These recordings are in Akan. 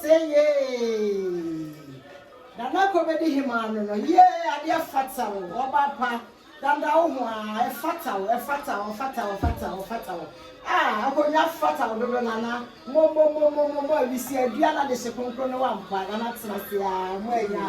Seeieeii Nana Ako bɛdi hemaa no no yee adeɛ fata o ɔbaa pa Dada wo ho aa ɛfata wo ɛfata ɔfata ɔfata ɔfata wo aa akonnwa fata wo dodo Nana momomomomomo awisie adua na de hye kronkron no wampa Nana tena ase aa mo anya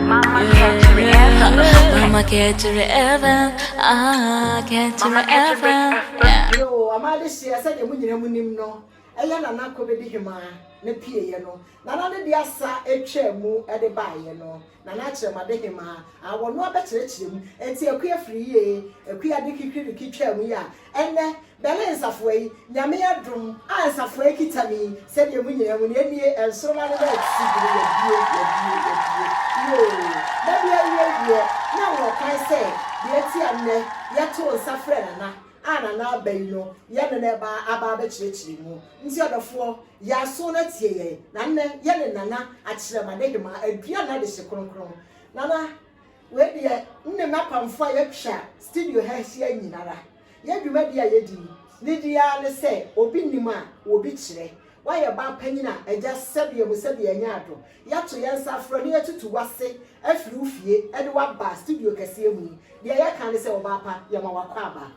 Mama kɛkyere Evan Mama kɛkyere Evan Ah kɛkyere Evan Yoo ɔmaa de hyeɛ sɛdeɛ mo nyina mo nim no ɛyɛ Nana Kobedi Hemaa ne pieeɛ no Nana ne de asa ɛtwaa mu de baeɛ no Nana Akyerɛmade Hemaa ah wɔnoa bɛkyerɛkyerɛ mu Ɛnti Akua firi yie Akua de kikiriki twaa mu yɛ a ɛnɛ Bɛle nsafoa yi, Nyame adom a nsafoa yi kita me yi, sɛdeɛ mo nyinaa hu no, enie, nsoroma no na ɛte bere yɛbue, yɛbue, yɛbue, yoo, mɛbue awiei deɛ, na ɛwɔ kwan sɛ deɛ ɛte a nnɛ yɛtoo nsa frɛɛ Nana a Nana aba yi no, yɛne no ɛba aba abɛkyerɛkyerɛ mu. Nti ɔdɔfoɔ, yɛ aso na tie yɛn, na nnɛ yɛne Nana Akyerɛmade Hemaa adua no adehye kronkron. Nana, wei deɛ, nne m'apamfoɔ a yɛatwa studio ha ahyia nyinara. Yɛn dwumadi a yedi no nidi ara ne sɛ obi nim a, obi kyerɛ. Woayɛ baa panyin a, agya sɛbea mu sɛbea anya adɔ. Yɛato yɛn nsa afrɛ wo na yɛatutu wo ase afiri wo fie de wo aba studio kɛseɛ mu yi. Deɛ yɛka ne sɛ, ɔbaa pa, yɛma wakɔ aba.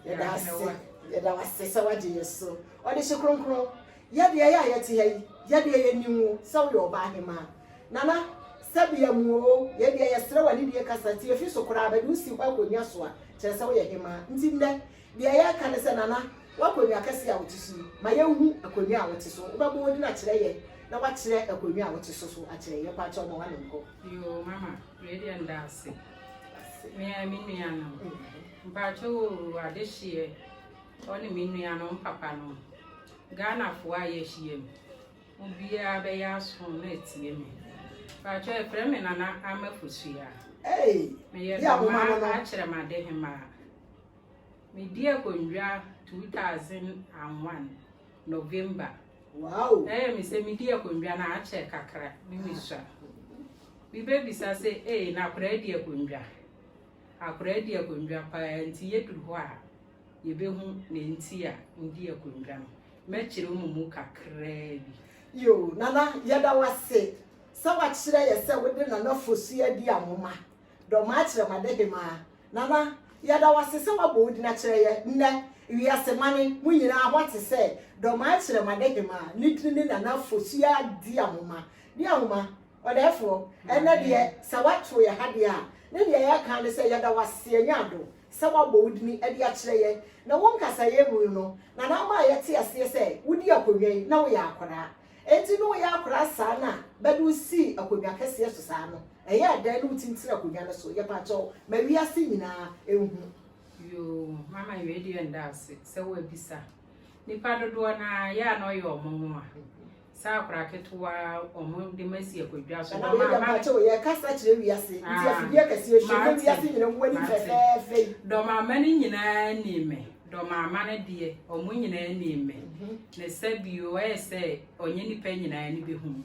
Yɛda ase, yɛda wo ase sɛ woagye yɛn so. Ɔdehye kronkron, Yɛ deɛ yɛ a yɛte ha yi, yɛ deɛ yɛnim wo sɛ woyɛ ɔbaa hemaa. Nana, Sɛbea mu oo, yɛ deɛ yɛsrɛ w'anidie kasa tie fi so koraa bɛde wo si hɔ akonnwa so a, kyerɛ sɛ woyɛ hemaa. Nti nnɛ, deɛ yɛreka ne sɛ Nana, w'akonnwa kɛseɛ a wote so yi, ma yɛnhu akonnwa a wote so. Wobɛbɔ wo din akyerɛ yɛ na woakyerɛ akonnwa a wote so so akyerɛ yɛ. Pakyɛ wo ma w'ano nkɔ. Yoo, mama, wei deɛ meda ase. Me ara me nuanom. Mpakyɛ oo, adehyeɛ. Ɔne me nuanom papanom, Ghanafoɔ a yɛahyiam, mo biara bɛyɛ aso na atie me. Mpakyɛ yɛfrɛ me Nana Ama Fosuaa. Meyɛ Dɔmaa Akyerɛmade Hemaa. Medi akonnwa 2001 November. Ɛyɛ me sɛ medi akonnwa no akyɛ kakra ne mesua. Bibɛbisa sɛ ee na akoraa di akonnwa? Akoraa di akonnwa paa nti yɛduru hɔ a yebehu nea enti a wodii akwanwura no. Mɛkyerɛw mo mu kakraa bi. Yiw, Nana, yɛda wo ase sɛ woakyerɛ yɛn sɛ wode Nana Fosu adi a moma dɔm akyerɛ mo adehema. Nana, yɛda wo ase sɛ woabɔ wo din akyerɛ yɛn nnɛ. Wiase mane mu nyinaa hɔ te sɛ dɔm akyerɛ mo adehema a ne din ne Nana Fosu adi a moma. Di ahoma, ɔdɛɛfoɔ. Ɛnnɛ deɛ, sɛ woato yɛn ha deɛ a, ne deɛ yɛka ara ne sɛ yɛda wo ase, yɛanya adom. sɛ wɔabɔ wo din de akyerɛ yɛn, na wo nkasaeɛ mu no na na ama yɛte aseɛ sɛ wodii akonnwa yi na woyɛ akwadaa. Enti na woyɛ akwadaa saa na bɛde wo sii akonnwa kɛseɛ so saa no, ɛyɛɛ dɛn na wotintinii akonnwa no so? Yɛpa kyɛw, ma wiase nyinaa nhu. Yoo, Mama wei deɛ nda ase sɛ woabisa. Nnipa dodoɔ no ara, yɛ a na ɔyɛ wɔn nwonwa. Sɛ akwadaa ketewa a wɔde ma si akɔ dwa so. Ɛnam yɛda mpakyɛ o yɛkasa kyerɛ wiase nti afidie akɛseɛ hyɛ mu wiase nyina mu wani fɛfɛɛfɛ yi. Dɔmama no nyinaa ni me. Dɔmama no deɛ wɔn nyinaa ni me. Ne sɛ bio ɛyɛ sɛ ɔnyɛ nipa nyinaa ni bɛhu.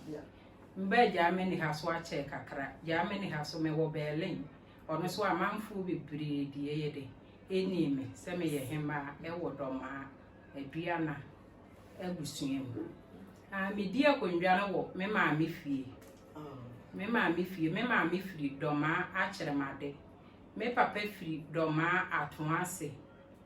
Mbɛ Germany ha so akyɛ kakra. Germany ha so mɛwɔ Berlin. Ɔno so amanfoɔ bebree deɛ yɛ de ɛni me sɛ meyɛ hemaa ɛwɔ dɔmaa aduana. abusua mu. Ah, medi akonnwa no wɔ me maame fie. Me maame fie, me maame firi Dɔmaa Akyerɛmade. Me papa firi Dɔmaa Atoase.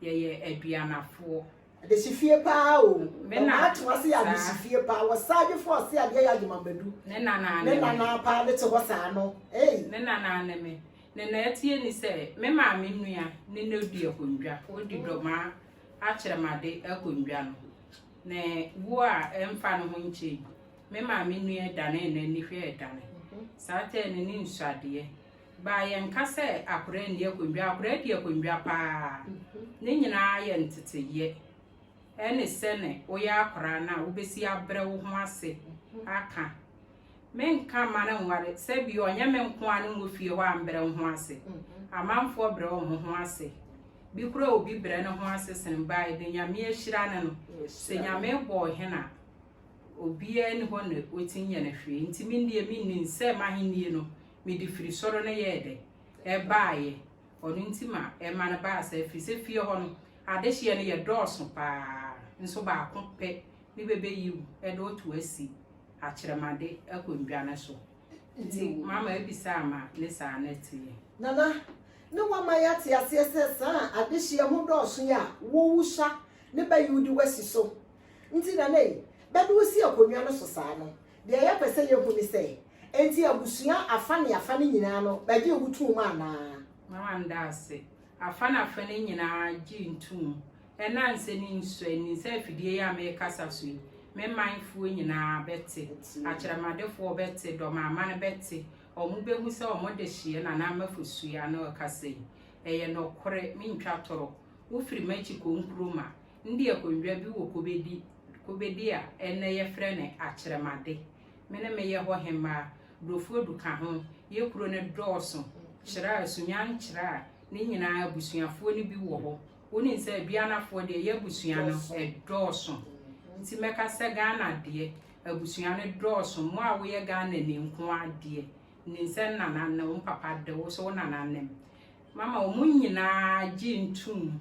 Yɛyɛ aduanafoɔ. Adesifie paa o. Me na ato ase yɛ adesifie paa. Wɔ saagye fo ɔse adeɛ yɛ adwemamadu. Ne nana ne me. Ne nana paa ne te hɔ saa no. Hey. Ne nana ne me. Ne na atie ni sɛ me maame nua ne na odi akonnwa. Odi dɔmaa akyerɛmade akonnwa no, ne wu a ɛmfa no ho nkyɛ yi, me maame nua danee n'ani hwɛɛ dan. Saa tɛɛ no ne nsuadeɛ baa yɛnka sɛ akwadaa nni akonnwa, akwadaa di akonnwa paa. Ne nyinaa yɛ nteteeɛ. Ɛne sɛ ne woyɛ akwadaa no a, wobɛsi abrɛ wo ho ase aka Menka mma no nware sɛ bi ɔnyɛ me nko a no nwɔ fie hɔ a mbrɛ wo ho ase. Amanfoɔ brɛ wɔn ho ase. Bi koraa obi brɛ ne ho ase sene baa yɛ dɛ Nyame ahyira no no. Sɛ Nyame bɔɔ hen a, obiaa ni hɔ na ɔtumi nyɛ no hwee. Nti me deɛ me nim sɛ m'ahennie no me de firi soro no yɛɛ dɛ? Ɛbaa yɛ. Ɔno nti ma ɛma no baa saa firi sɛ fie hɔ no adehyeɛ no yɛ dɔɔso paa nso baako pɛ ne bɛbɛyi wo de wo to asi. akyerɛmade akonnwa no so. Nti mama abisaa ma ne saa no teɛ. Nana, ne wama yɛate aseɛ sɛ saa adehyeɛ ho dɔɔso yi a wowu sha ne bɛ yi wode wasi so nti na na yi bɛde wo si akonnwa no so saa no. Deɛ yɛpɛ sɛ yɛhu ne sɛ, enti abusua afa ne afa no nyinaa no bɛgyee wo toom anaa? Mama no daa ase. Afa ne afa no nyinaa gyee ntoom. Ɛnansɛ ne nsɔ ani sɛ afidie yi a merekasa so yi, me manfoɔ nyinaa bɛte, akyerɛmadefoɔ bɛte, dɔmamane bɛte, wɔbɛhu sɛ wɔn dehyeɛ na na Mafo sua na ɔrekasa yi. Ɛyɛ nɔkorɛ, mentwa torɔ. Wofiri m'akyi kɔ Nkrumah, ndi akonnwa bi wɔ Kobedi, Kobedi a ɛnnɛ yɛfrɛ no Akyerɛmade. Me ne meyɛ hɔ hemmaa, Brofodu ka ho, yɛ kuro no dɔɔso, Kyerɛa, Sunya Nkyerɛa, ne nyinaa abusuafoɔ no bi wɔ hɔ. wonim sɛ Bianafoɔ deɛ yɛ abusua no ɛdɔɔso nti mɛka sɛ Ghana deɛ abusua no dɔɔso mo a woyɛ Ghana ni nko adeɛ nim sɛ nana ne wo papa de wo so wo nana nem mama wɔn nyinaa gye ntum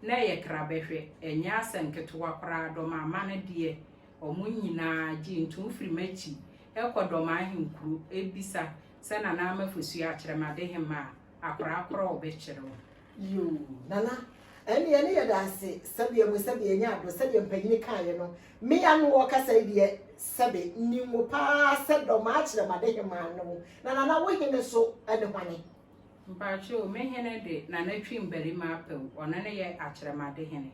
na ɛyɛ kra bɛhwɛ ɛnyɛ asɛ nketewa koraa dɔm ama no deɛ wɔn nyinaa gye ntum firi m'akyi ɛkɔ dɔm ahenkuro ebisa sɛ nana ama fosua akyerɛ ma de hema a akora akora ɔbɛkyerɛ wo Yiw, Nana. Ɛnde yɛne yɛ da ase, sɛdeɛ mo sɛdeɛ ɛnyɛ adɔ, sɛdeɛ mpanin kaeɛ no, me ya no wɔ kasa yi deɛ, sɛbe, nnim wo pa ara sɛ dɔ maa kyerɛ m'adehemaa no wo. Na Nana, wo hene nso ne hwane? Mpakyɛw, me hene de, Nana Twim Barima Apawu, ɔno ne yɛ akyerɛmadehene.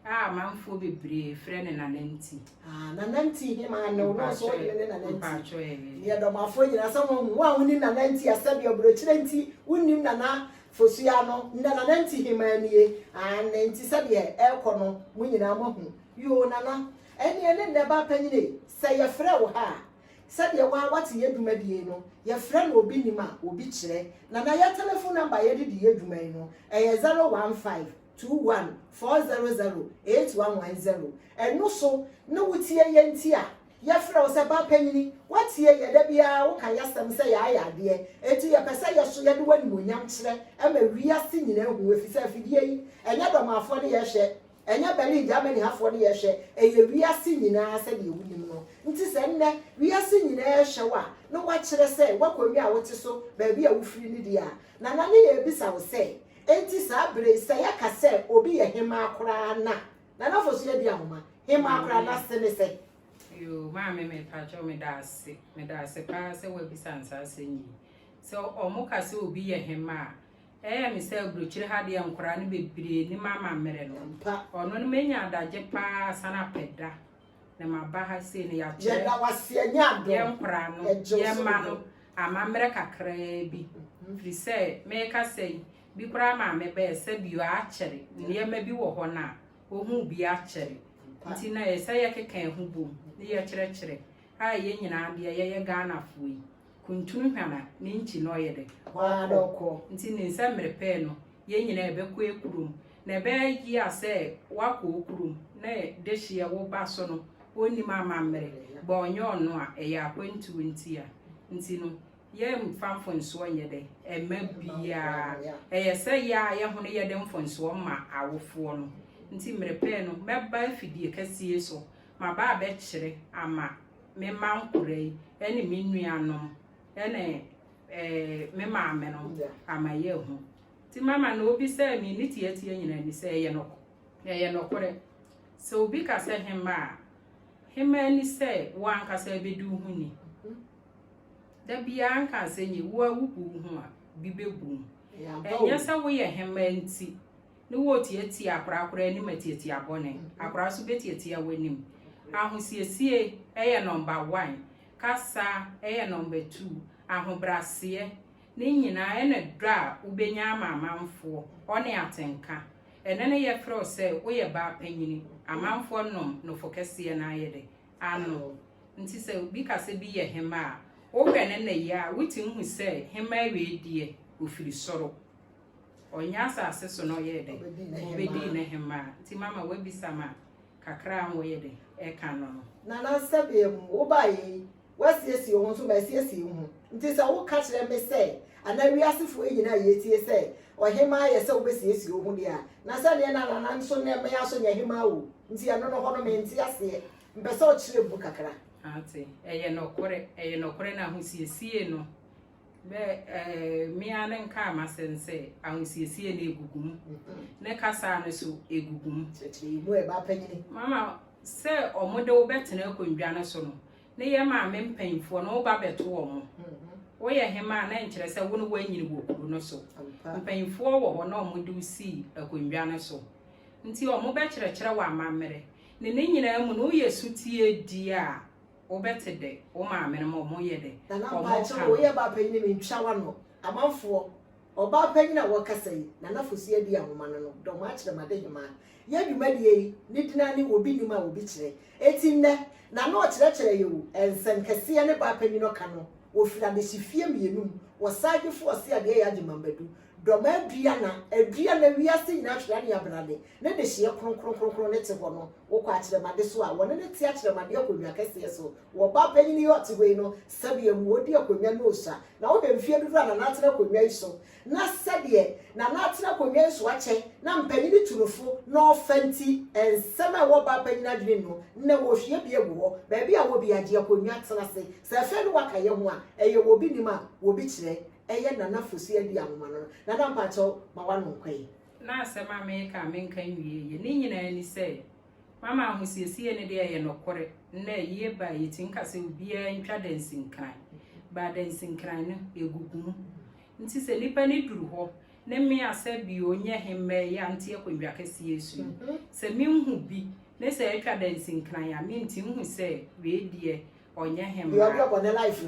A amanfoɔ bebree frɛ no Nananti. Ah, Nananti he maa ne wonɔ so wode ne Nananti. Mpakyɛ ɛɛ. Deɛ dɔmafoɔ nyina sɛ moahu, wo a wonim Nananti a sɛdeɛ ɔbrɔkyirɛ nti wonnim Nana Fosuaa no, ndɛ Nananti hemaa nie, aane, nti sɛdeɛ ɛɛkɔ no mo nyinaa moahu. Yoo Nana, ɛneɛ ne ndɛ baa panyin ei, sɛ yɛfrɛ wo ha a, sɛdeɛ wo ara wate yɛ dwumadie yi no, yɛfrɛ no obi nim a, obi kyerɛ. Nana yɛ telefon namba a yɛde di yɛ dwuma yi no, ɛyɛ zero one five. two one four zero zero eight one one zero Ɛno so ne wo tie yɛ nti a yɛfrɛ wo sɛ ba panyini Woatie yɛ da biara woka yɛasɛm sɛ yɛayɛ adeɛ Enti yɛpɛ sɛ yɛ so yɛde w'animuonyam kyerɛ ma wiase nyinaa hu Ɛfisɛ afidie yi ɛnyɛ Burmafoɔ ne yɛhwɛ ɛnyɛ Berlin Germany hafoɔ ne yɛhwɛ Ɛyɛ wiase nyinaa sɛdeɛ wonim no Nti sɛ nnɛ wiase nyinaa rehwɛ wo a na woakyerɛ sɛ w'akonnwa a wote so baabi a wofiri no deɛ a Nana ne yɛrebisa wo sɛ Enti saa bere yi, sɛ yɛka sɛ obi yɛ hemmaa koraa na, Nana Fosu adi ahoma, hemmaa koraa na ase ne sɛn? Yoo, maame mepakyɛw meda ase, meda ase paa sɛ woabisa me saa asɛm yi. Sɛ wɔka sɛ obi yɛ hemmaa a, ɛyɛ me sɛ aburokyire ha deɛ nkwadaa no bebree nim amammerɛ no. Ampa. Ɔno no menya adagye paa asan apɛ da na maba ha sei no yɛakyerɛ yɛn nkora no yɛn mma no amammerɛ kakraa bi mhm. firi sɛ meka sɛ yi bi koraa maa mebɛɛ sɛ bio akyɛre nneɛma bi wɔ hɔ no a wɔhu bi akyɛre nti na yɛ sɛ yɛkeka ɛho bom ne yɛkyerɛkyerɛ a yɛn nyinaa deɛ yɛyɛ ghanafoɔ yi kuntun hwam a, ne nkyi na ɔyɛ dɛ? Ɔara na ɔkɔ. Ntsi ne nsɛmbir pɛɛ no, hɛn nyina yɛbɛkɔ ekurom, na ebɛyɛ a sɛ wɔakɔ wo kurom na dehyeɛ wo ba so no, ɔnnim amamber, bɔ ɔnnyɛ ɔno a, ɛyɛ akwantuo nti a. Ntsi no, yɛmmfa mfonsoɔ nnyɛ dɛ? Mma biara. Ɛyɛ sɛ yɛ ara yɛ ho no yɛde mfonsoɔ ma awofoɔ no. Ntsi mber pɛɛ no, mɛba afidie kɛseɛ yi so, maba abɛkyerɛ ama. me mma nkora yi ne me nuanom ne eh, me maame no ama yɛ ahu nti mama na obi sɛ me ne tiatia nyinaa ni sɛ ɛyɛ nɔkɔ ɛyɛ nɔkorɛ sɛ obi ka sɛ hema a hema ni sɛ wo ankasa ɛbɛdi wo ho ni da biara nka sɛ nyɛ wo a wobu wo ho a bi bɛbu mu ɛnyɛ sɛ woyɛ hema nti ne wo tiatia akorakora anim atiatia bɔne. Akora nso bɛtiatia w'anim. Ahosiesie yɛ nɔmba wan, kasa yɛ nɔmba tu, ahobraseɛ, ne nyinaa ɛna dɔ a wobɛnya ama amanfoɔ, ɔne atenka. Ɛnɛ no yɛfrɛ wo sɛ woyɛ baa panyini, amanfoɔ nom nofo kɛseɛ no ara yɛ dɛ? Ano wo. Nti sɛ obi ka sɛ bi yɛ hemaa a, wohwɛ ne nnɛyɛ a, wotumi hu sɛ hemaa wei deɛ ɔfiri soro. Ɔnyɛ asase so na ɔyɛɛ dɛn? Ɔbɛdii ne hemmaa. Nti mama woabisa me a, kakra a wɔyɛ dɛn? Ɛka no no. Nana sɛdeɛ wobaeɛ yi, woasiesie wo ho nso masiesie me ho. Nti sɛ woka kyerɛ me sɛ, anaa wiasefoɔ yi nyinaa a yɛtie sɛ, ɔhemmaa yɛ sɛ wobɛsiesie wo ho deɛ a, na sɛdeɛ na Nana nso ne me nso nyɛ hemmaa o. Nti ɛno no hɔ no mente aseɛ. Mpɛ sɛ ɔkyerɛ mu kakra. Ate. Ɛyɛ nɔkorɛ. Ɛyɛ nɔkorɛ na ahosiesie no Dɛ me ara no nkaa m'asɛm sɛ, Ahosiesie no egugu mu. Ne kasaa no so egugu mu. Kyerɛkyerɛ mu ɛ, bapanyini. Mama, sɛ wɔde wo bɛtena akonnwa no so no, ne yɛ maame mpanyimfoɔ no, wo ba bɛto wɔn. Woyɛ hema a, na nkyerɛ sɛ wo ne woanyini wɔ kuro no so. Mpanyimfoɔ wɔ hɔ na wɔde wo sii akonnwa no so. Nti wɔbɛkyerɛkyerɛ wo amammerɛ. Ne ne nyinaa mu no, woyɛ sotie di a. wo bɛ te dɛ wo maame no ma ɔmo yɛ dɛ Nana ɔmo mpakyɛw ka no. woyɛ baa panyin me ntwa wano. Amanfoɔ, ɔbaa panyin a wɔkasa yi, Nana Fosu Adi Ahoma no no, dɔm akyerɛ ma de hemaa. Yɛ dwumadie yi, ne din ara ne Obi Nim a Obi Kyerɛ. Enti nnɛ, Nana ɔkyerɛkyerɛ yɛ o, nsɛm kɛseɛ ne baa panyin ɔka no, ɔfiri adehyefie mmienu mu, wɔ Saagye Foɔ Ɔse Adeɛ Yɛ Agyeman Badu, Dɔm adua na adua na wiase nyinaa hwere aneabrane ne dehyeɛ kronkron kronkron no te hɔ no, wokɔ akyerɛmade so a, wɔne no te akyerɛmade akonnwa kɛseɛ so wɔ ɔbaa panyin yi a ɔte hɔ yi no sɛdeɛ mu, ɔdi akonnwa no ɔsua, na wohwɛ mfeɛ dodoɔ a Nana atena akonnwa yi so na sɛdeɛ Nana atena akonnwa yi so akyɛ na mpanyin tu no fo na ɔfa nti, nsɛm a ɛwɔ ɔbaa panyin adwenem no, nnɛ wɔhwie bi agu hɔ, baabi a wɔ biara gye akonnwa tena ase, sɛ afei ne waka yɛ ho a, ɛyɛ wɔ obi nim a, wɔ bi kyerɛ, ɛyɛ Nana Fosu Adi Anwoma no no. Nana mpakyɛw ma w'ano nkɔ yi. Na asɛm a mereka a menka nwie yɛ ne nyinaa ni sɛ, Mama ahosiesie no deɛ ɛyɛ nɔkore, nnɛ ayie ba a yɛtumi ka sɛ obiara ntwa dansinkran, but dansinkran no ɛgugu mu. Nti sɛ nipa no duru hɔ ne me a sɛ bi ɔnyɛ he mmɛɛ yɛ a nte akonnwa kɛseɛ so yi, sɛ menhu bi ne sɛ atwa dansinkran a mente nhu sɛ wei deɛ ɔnyɛ hemmara, na ɔde ɔbɔ ne life.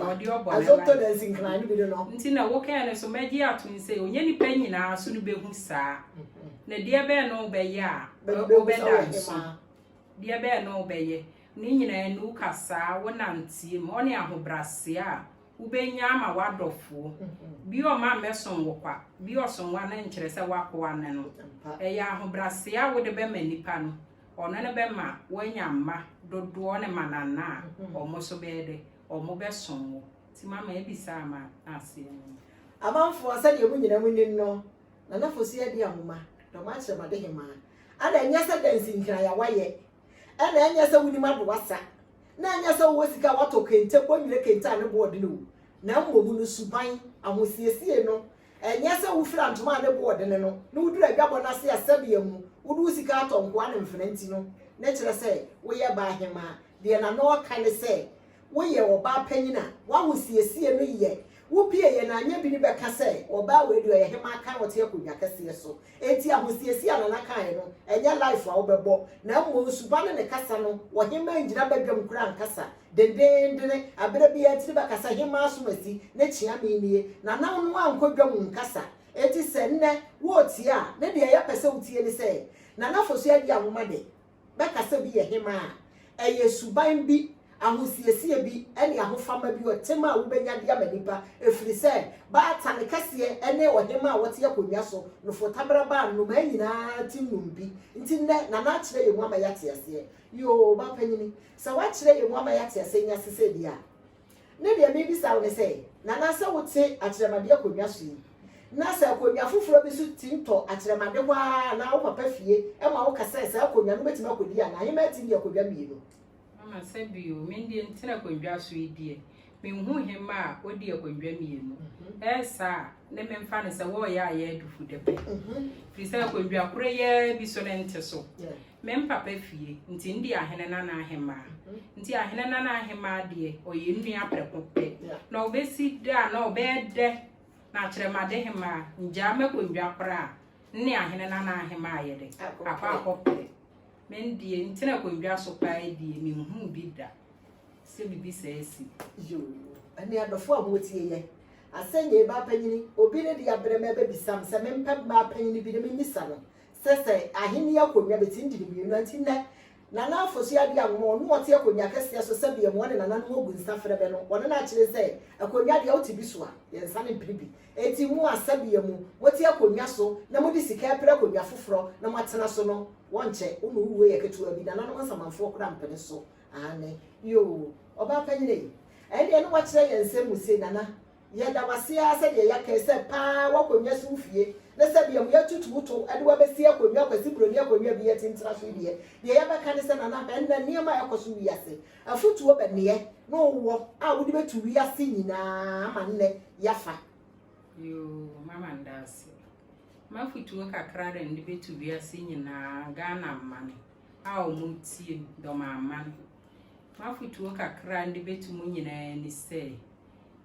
Nti na wokae no nso, mɛgye atom sɛ, ɔnyɛ nnipa nyinaa so no bɛhu saa. Na deɛ bɛn na wobɛyɛ a wobɛda nso? Deɛ bɛn na wobɛyɛ? Ne nyinaa ni, wokasaa, wonanteɛm, ɔne ahobrɛaseɛ a wobɛnya ama w'adɔfoɔ. Bi ɔmma mmɛsom wo kwa, bi ɔsom wo a na nkyerɛ sɛ w'akoa ne no. Ɛyɛ ahobrɛaseɛ a wode bɛma nnipa no. ɔno no bɛma woanya mma dodoɔ ne manana a wɔn nso bɛyɛ dɛ, wɔn bɛsom wo. Nti mama abisa ama na aseɛ no no. Amanfoɔ, sɛdeɛ mo nyinaa mo nim no, Nana Fosu adi ahoma, dɔm akyerɛ m'adehemaa. Ana ɛnyɛ sɛ dansi nkraya wayɛ? Ɛna ɛnyɛ sɛ wonim ado wasa? Na ɛnyɛ sɛ wowɔ sika a woatɔ kente, kɔnwire kente a ne boɔ dene o, na mmom no suban, ahosiesie no Ɛnyɛ sɛ wofira ntoma a ne bo wɔ dene no na woduru adwabɔ no ase a sɛbea mu wode wo sika atɔ nkoa ne mfena nti no na ɛkyerɛ sɛ woyɛ baa hemmaa. Deɛ na na ɔreka ne sɛ, Woyɛ ɔbaa panyin a w'ahosiesie no yɛ wo pie yɛ na anyɛ bi no bɛka sɛ, Ɔbaa wei deɛ ɔyɛ hemmaa kan a ɔte akonnwa kɛseɛ so. Enti ahosiesie a Nana kaeɛ no, ɛnyɛ life a wobɛbɔ, na mmom suba ne ne kasa no, ɔhemaa ngyina badwam koraa nkasa dendeendene, aberɛ biara tiri bɛkasa hemaa asomasi ne kyeame nie, Nana no ankɔ dwam nkasa, enti sɛ nnɛ woretie a, ne deɛ yɛpɛ sɛ wotie ne sɛ, Nana Fosu Agyia Nwoma de, bɛkasa bi yɛ hemmaa a, ɛyɛ suban bi, ahosiesie bi, ne ahofama bi, ɔtem a wobɛnya de ama nnipa, ɛfiri sɛ baatan kɛseɛ ne ɔhemmaa a ɔte akonnwa so no fotabra baa nnomaa nyinaa ti nnompe nti. Nnɛ Nana akyerɛ yɛn mu ama yɛate aseɛ. Yoo, Ɔbaapanin, sɛ woakyerɛ yɛn mu ama yɛate aseɛ nyansesɛ bi a, Ne deɛ mebisa wo ne sɛ, Nana sɛ wote akyerɛmade akonnwa so yi, na sɛ akonnwa foforɔ bi nso tim tɔ akyerɛmade hɔ ara anaa wo papa fie ma wo ka sɛ saa akonnwa no mɛtumi akɔdi anaa? Heman tim de akonnwa mmienu. Mama sɛ bio, me deɛ ntena akonnwa so yi deɛ, menhu heman a ɔdi akonnwa mmienu. Ɛyɛ saa a, ne memfa no sɛ wɔreyɛ ayɛ adufudepɛ. Firi sɛ akonnwa koro yi ara bi so ne nte so. Me mpapa fie, nti ndeɛ ahene na n'ahemaa. Nti ahene na n'ahemaa deɛ, ɔyɛ nnua prɛko pɛ. Na ɔbɛsi dɛ a, na ɔbɛyɛ dɛ, na akyerɛ m'adehemaa, ngyaa m'akondwa koraa, nne ahene na n'ahemaa ayɛ dɛ, akɔ akɔpere. Me ndeɛ, ntena akondwa so paa die, menhuu bi da, sɛ bibi saa asi. Yoo, ɛnne adɔfoɔ a motie yɛ, asɛnnyee baapanyini, obi ne deɛ abrɛ me abɛbisa me sɛ mempɛ baapanyini bi na memmisa no, Sɛsɛ, Ahenni akonnwa betumi di ne mmienu, enti nnɛ, Nana Afosua-Addo a wɔn na wɔte akonnwa akɛseɛ so sɛdeɛ mmoa ne nananom ɔgu nsa frɛ bɛ no, wɔne no akyere sɛ, Akonnwa deɛ wote bi so a, yɛn nsa no mpene bi. Enti mo a sɛdeɛ mo, mote akonnwa so na mode sika repere akonnwa foforɔ na moatena so no, wɔnkyɛ, wo ma wo wuo yɛ ketewa bi, nananom nsamanfoɔ koraa mpene so. Aane. Yoo, ɔbaa panyini ei. Ɛnneɛ na wakyerɛ yɛn nsɛm mu sei, Nana, Yɛda wo ase ara sɛdeɛ yɛakae sɛ paa w'akonnwa si wo fie ne sɛdeɛ mo yɛatutu wo to de wo abɛsi akonnwa Kwasi Broni akonnwa bi yɛte ntena so yi deɛ, deɛ yɛbɛka ne sɛ Nana hwɛ nnɛ nneɛma a ɛkɔ so wiase. Afotuo bɛneɛ na wowɔ a wode bɛtu wiase nyinaa ama nnɛ yɛafa? Yoo, mama nda ase. M'afotuo kakra de nde bɛtu wiase nyinaa Ghana man a wɔn tie dɔm aman. M'afotuo kakra nde bɛtu mo nyinaa ni sɛ,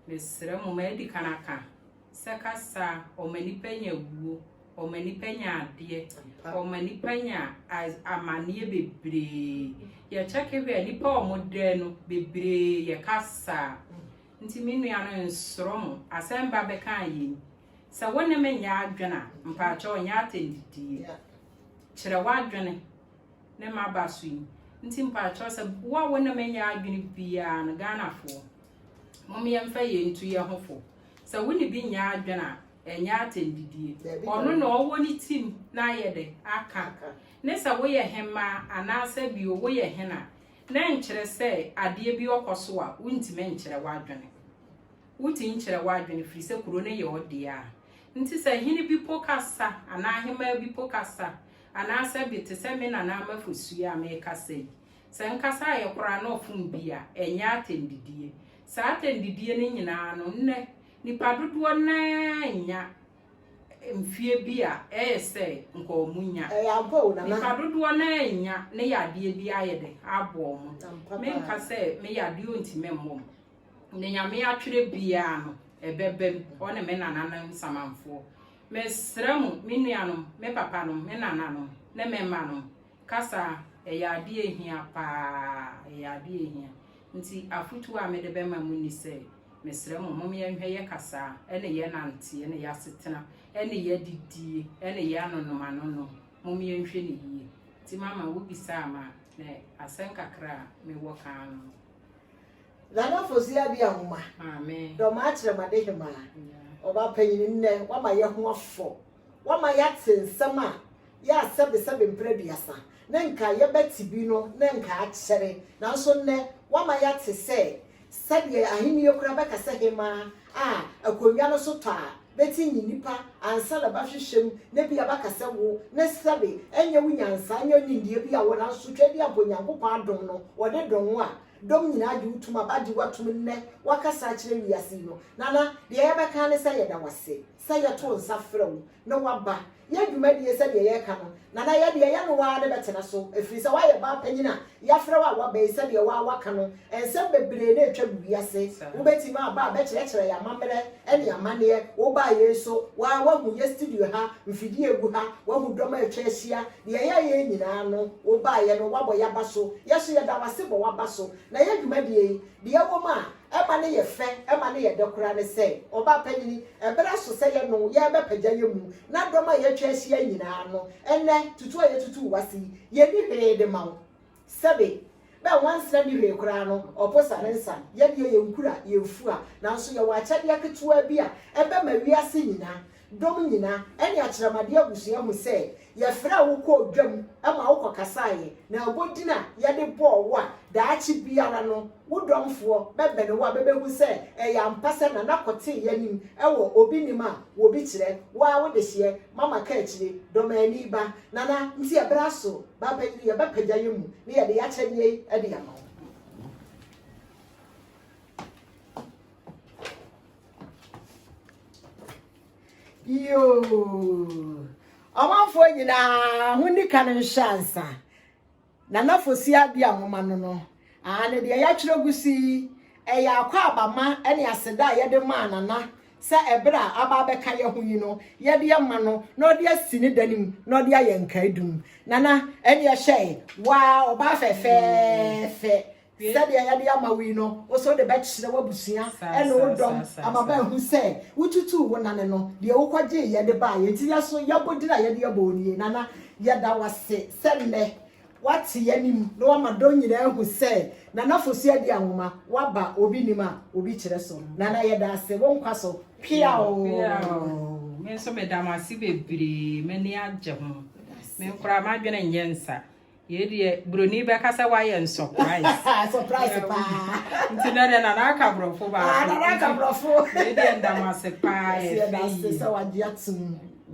Mesrɛ mo, madi kan aka sɛ kasa a ɔma nnipa nya wuo, ɔma nnipa nya adeɛ, ɔma nnipa nya amanneɛ bebree. Yɛkyɛke hwɛ a, nnipa a wɔdɛɛ no bebree yɛ kasa. Nti me nua no nsoro mo, asɛm ba bɛka a yɛn. Sɛ wo ne me nyɛ adwene a, mpakyɛ ɔnyɛ atɛndidie. Kyerɛ w'adwene ne maba so yi. Nti mpakyɛ sɛ wo a wo ne me nyɛ adwene biara no, Ghanafoɔ. Mom yɛmfa yei ntu yɛ ho fo. Sɛ wo ne bi nyɛ adwene a, ɛnyɛ atɛndidie. Ɔno na ɔwɔ ne tim na ayɛ dɛ aka. Ne sɛ woyɛ hemmaa anaasɛ bio woyɛ hena na ɛnkyerɛ sɛ adeɛ bi ɔkɔ so a wontumi nkyerɛ w'adwene. Wotumi kyerɛ w'adwene firi sɛ kuro no yɛ ɔdeɛ a. Nti sɛ hene bi po kasa anaa hemmaa bi po kasa anaasɛ bi te sɛ me nana Amafo Suee a mekasa yi Sɛ nkasa a yɛkora ano fom bi a, ɛnyɛ atɛndidie. Saa atɛndidie no nyina ara no, nnɛ, nnipa dodoɔ no ara nnya mfeɛ bi a ɛyɛ sɛ nka wɔn nya. Ɛyɛ ampa o, Nana. Nnipa dodoɔ no ara nnya ne yadeɛ bi ayɛ dɛ abɔ wɔn. Ampa paa. Menka sɛ me yadeɛ ɔntumi mmɔ me. Deɛ Nyame atwerɛ biara no, ɛbɛba mu, hɔ ne me nananom samanfoɔ. Mesrɛ mo, me nuanom, me papanom, me nananom, ne me mmanom, Kasa ɛyɛ adeɛ a ɛhia paa, ɛyɛ adeɛ a ɛhia. Nti afotuo a mede bɛma mo ni sɛ, mesrɛ mo, mom yɛnhwɛ yɛ kasa, ɛne yɛ nante, ɛne yɛ asetena, ɛne yɛ adidie, ɛne yɛ anonom anonom, mom yɛnhwɛ no yie. Nti mama wo bisaa me a, na asɛm kakra a mewɔ ka ara no. Nana Foziah Abia Nwoma, Dɔm Akyerɛmade Hemaa, Ɔbaa Panyin, nnɛ, woama yɛho afɔ, woama yɛate nsɛm a yɛ a sɛbesɛbe mpere aduasa ne nka yɛbɛte bi no na nka akyɛre, nanso nnɛ wɔama yɛate sɛ sɛdeɛ Ahenni kora bɛka sɛ hemmaa a akonnwa no so tɔ a bɛte nye nnipa ansa na bɛahwehwɛ mu na ebia bɛaka sɛ wo ne sɛbe ɛnyɛ wo nyansa ɛnyɛ wo nimdeɛ bi a wɔ nanso twa di ampa Onyankopɔn adom no wɔde dom wo a dɔm nyinaa gye wo tom a bɛagye wo atom nnɛ woakasa akyerɛ wiase yi no Nana deɛ yɛbɛka ara ne sɛ yɛda wo ase. sɛ yɛto nsa frɛ wo na woaba yɛn dwumadie sɛdeɛ yɛreka no, Nana yɛ deɛ yɛ no woaa ne bɛtena so ɛfiri sɛ woayɛ baa panyin a yɛafrɛ wo a woaba yi sɛdeɛ woaa woaka no nsɛm bebree na ɛtwa gu wiase wobɛtumi aba a bɛkyerɛkyerɛ yɛ amammerɛ ne amanneɛ wobaa yei nso woaa woahu yɛ studio ha mfidie ɛgu ha woahu dɔm a atwa ahyia deɛ yɛ yɛ nyinaa no wobaeɛ no woabɔ yɛ aba so yɛ nso yɛda wo ase bɔ w'aba so na yɛ dwumadie yi deɛ ɛwɔ mu a ɛma no yɛ fɛ, ɛma no yɛ dɛ koraa ne sɛ, ɔbaapanyin, bere so sɛ yɛne wo yɛrebɛpagya yɛn mu, na dɔm a yɛatwa ahyia yi nyinaa no, ɛnnɛ, tutu a yɛatutu wo ase yi, yenni hwee de ma wo. Sɛbe, bɛ nwansena nni hwee koraa no, ɔpo sa ne nsa, yɛn deɛ, yɛn nkura, yɛn fua, nanso yɛwɔ akyɛdeɛ ketewaa bi a ɛbɛma wiase nyinaa, Dɔm nyina ne akyerɛmade abusua hu sɛ yɛfrɛɛ wo kɔɔ dwam ma wokɔkasaeɛ, na ɛbɔ din a yɛde bɔɔ wo a daakye biara no wo dɔmfoɔ bɛbɛne wo a bɛbɛhu sɛ ɛyɛ ampa sɛ Nana Kortee anim wɔ obi nim a wɔbi kyerɛ wo ara wo dehyeɛ ma maka akyire Dɔmani ba Nana nti ɛberɛ aso Bapayire yɛbɛpagya yɛn mu na yɛde y'akyɛdeɛ yi de ama wo. yoo ɔmanfoɔ nyinaa ho ni ka no nhyɛ ansa nana fosi adi ahoma no no aa ne deɛ yɛatwerɛ gu so yi ɛyɛ akɔ abama ne aseda a yɛde maa nana sɛ ɛberɛ a aba abɛka yɛ ho yi no yɛde ama no na ɔde asi ne da no mu na ɔde ayɛ nkaedum nana ɛne ɛhyɛe waa ɔbaa fɛfɛɛfɛ Sɛdeɛ yɛde ama wo yi no, wo nso wode bɛkyerɛ w'abusua ne wo dɔm ama bɛahu sɛ wotutuu wo nane no, deɛ wokɔgyeeɛ de baeɛ. Enti yɛn nso, yɛn abodin a yɛde abɔ wo nie, Nana. Yɛda wo ase sɛ nnɛ woate yɛn anim na woama dɔm nyinaa ahu sɛ Nana Fosu adi anwoma. Woaba obi nim a obi kyerɛ so. Nana, yɛda ase. Wo nkwa so. Peaw! Me nso meda mo ase bebree, m'ani agye ho. Me koraa m'adwene nyɛ nsa. Yei deɛ buroni bɛka sɛ wayɛ nsɔprais. Surprise paa. Nti na deɛ nana aka borɔfo baako. Ah, nana aka borɔfo. Yei deɛ ndamase paa ɛfɛ yi. Yɛda ase sɛ wagye atom.